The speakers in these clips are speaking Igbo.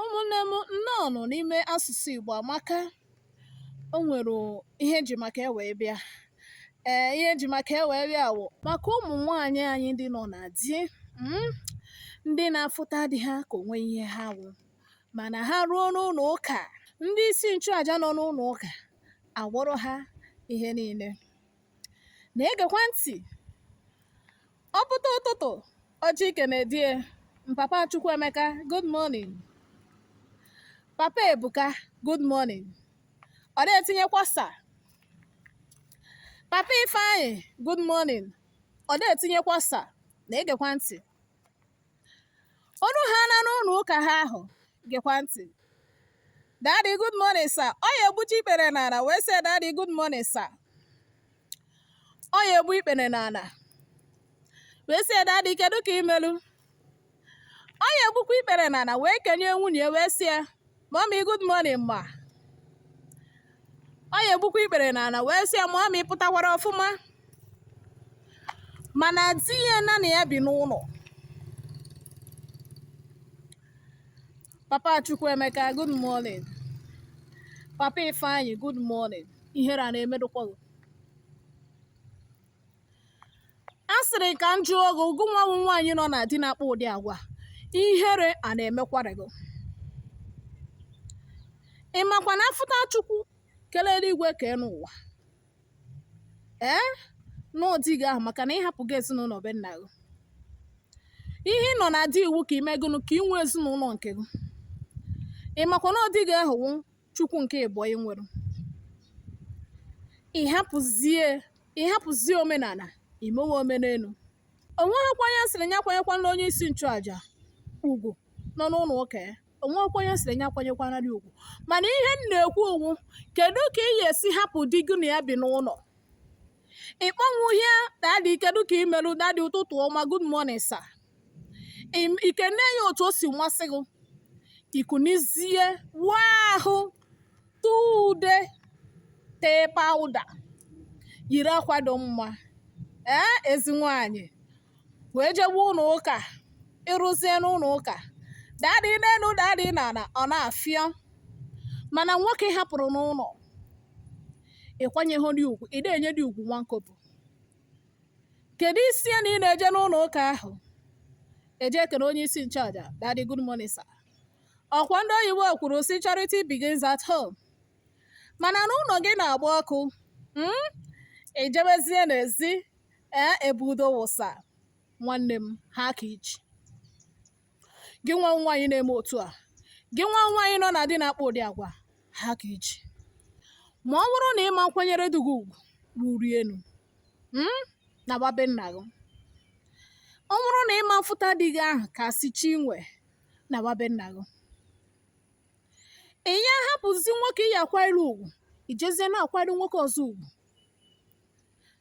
ụmụnne m nnọọnụ n'ime asụsụ Igbo amaka o nwere ihe eji maka e wee bịa ee ihe eji maka e wee bịa wụ maka ụmụ nwaanyị anyị ndị nọ na di mm, ndị na-afụta di ha ka onweghị ihe ha wụ mana ha ruo n'ụlọ ụka ndị isi nchụaja nọ n'ụlọ ụka awụrụ ha ihe niile na-egekwa ntị ọ pụta ụtụtụ ọ je ikene di ye papa Chukwuemeka good morning papa Ebuka good morning ọ na-etinyekwa sir papa Ifeanyị good morning ọ na-etinyekwa sir na-egekwa ntị O luhaana n'ụlọ ụka ha ahụ gekwa ntị. Daddy, good morning, sir. Ọ ya egbuchi ikpere n'ala wee sị daddy, good morning, sir. Ọ ya egbu ikpere n'ala wee sị daddy, kedu ka i melu? Ọ ya egbukwa ikpere n'ala wee kenee nwunye wee sị ya mommy good morning ma ọ ya egbukwa ikpere n'ala wee sị ya mommy pụtakwara ọfụma mana di ya na na ya bi n'ụlọ papa Chukwuemeka good morning papa Ifeanyị good morning ihere a na-emedụkwa gị a sịrị ka m jụọ gị gụnwa wụ nwaanyị nọ na di na-akpa ụdị agwa ihere a na-emekwara gị ị makwa na afụta Chukwu kele eluigwe kee enu ụwa ee na ọ di gị ahụ maka na ị hapụgo ezinụlọ be nna gị ihe ị nọ na di wụ ka i mee gụnụ ka i nwee ezinụlọ nke gị ị makwa na ọ di gị ahụ wụ Chukwu nke ịbụọ i nwere ị hapụzie ị hapụzie omenala i mewe omenelu onweghịkwa onye sịrị ya akwanyekwana onye isi nchụaja ugwu nọ n'ụlọ ụka ya onweghịkwa onye sịrị ya akwanyekwana ya ugwu mana ihe m na-ekwu wụ kedu ka ị ga-esi hapụ di gị na ya bi n'ụlọ ị kpọnwụghị ya daddy kedu ka i meru daddy ụtụtụ ọma good morning sir I kenee ya otu o si masị gị i kunizie wụọ ahụ tee ude tee powder yiri akwa dị mma ee ezi nwaanyị wee jebe ụlọ ụka i ruzie n'ụlọ ụka daddy n'elu daddy n'ala ọ na-afịọ mana nwoke ị hapụrụ n'ụlọ ị kwanyeghị di ugwu ị na-enye di ugwu nwa nkopụ kedu isi ya na ị na-eje n'ụlọ ụka ahụ eje ekene onye isi nchụaja daddy good morning sir ọkwa ndị oyibo kwuru sị charity begins at home mana n'ụlọ gị na-agba ọkụ mm? i jebezie n'ezi ee ebu udo wụsa nwanne m ha ka iji gị nwa nwaanyị na-eme otu a gị nwa nwaanyị nọ na di na-akpa ụdị agwa ha ka i che ma ọ bụrụ na ịma nkwanyere di gị ugwu ruru enu hmm, naba be nna gị ọ bụrụ na ịma mfụta di gị ahụ ka si chi nwe naba be nna gị ị ya ahapụzi nwoke ị ya akwanyere ugwu ijezie na-akwanyere nwoke ọzọ ugwu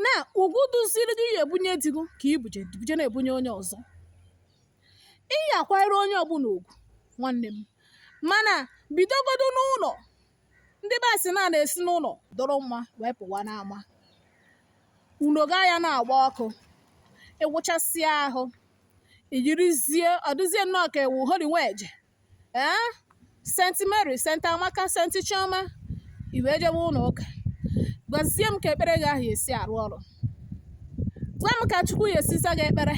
na ugwu dịziri ị ya ebunye di gị ka ibuje buje na-ebunye onye ọzọ ị ya akwanyere onye ọbụla ugwu nwanne m mana bidogodo n'ụlọ ndị be anyị sị na na-esi n'ụlọ dịrị mma wee pụwa n'ama ụnọ gị a ya na-agba ọkụ ịwụchasịa ahụ iyirizie ọ dụzie nnọọ ka ị wụ holy nweje ee saint mary saint amaka saint chioma i wee jewe ụlọ ụka gwazie m ka ekpere gị ahụ ya esi arụ ọrụ gwa m ka chukwu ya esi za gị ekpere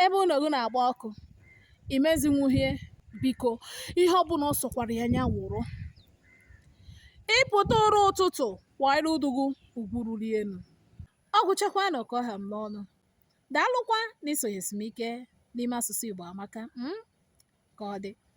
ebe ụlọ gị na-agba ọkụ imezinwuhie biko ihe ọbụla ọ sọkwara ya nya wụrụ ịpụta ụra ụtụtụ kwanyere di gị ugwu ruru enu ọ gwụchakwanụ ka ọ ha m n'ọnụ daalụkwa na isonyesi m ike n'ime asụsụ Igbo amaka mm? ka ọ dị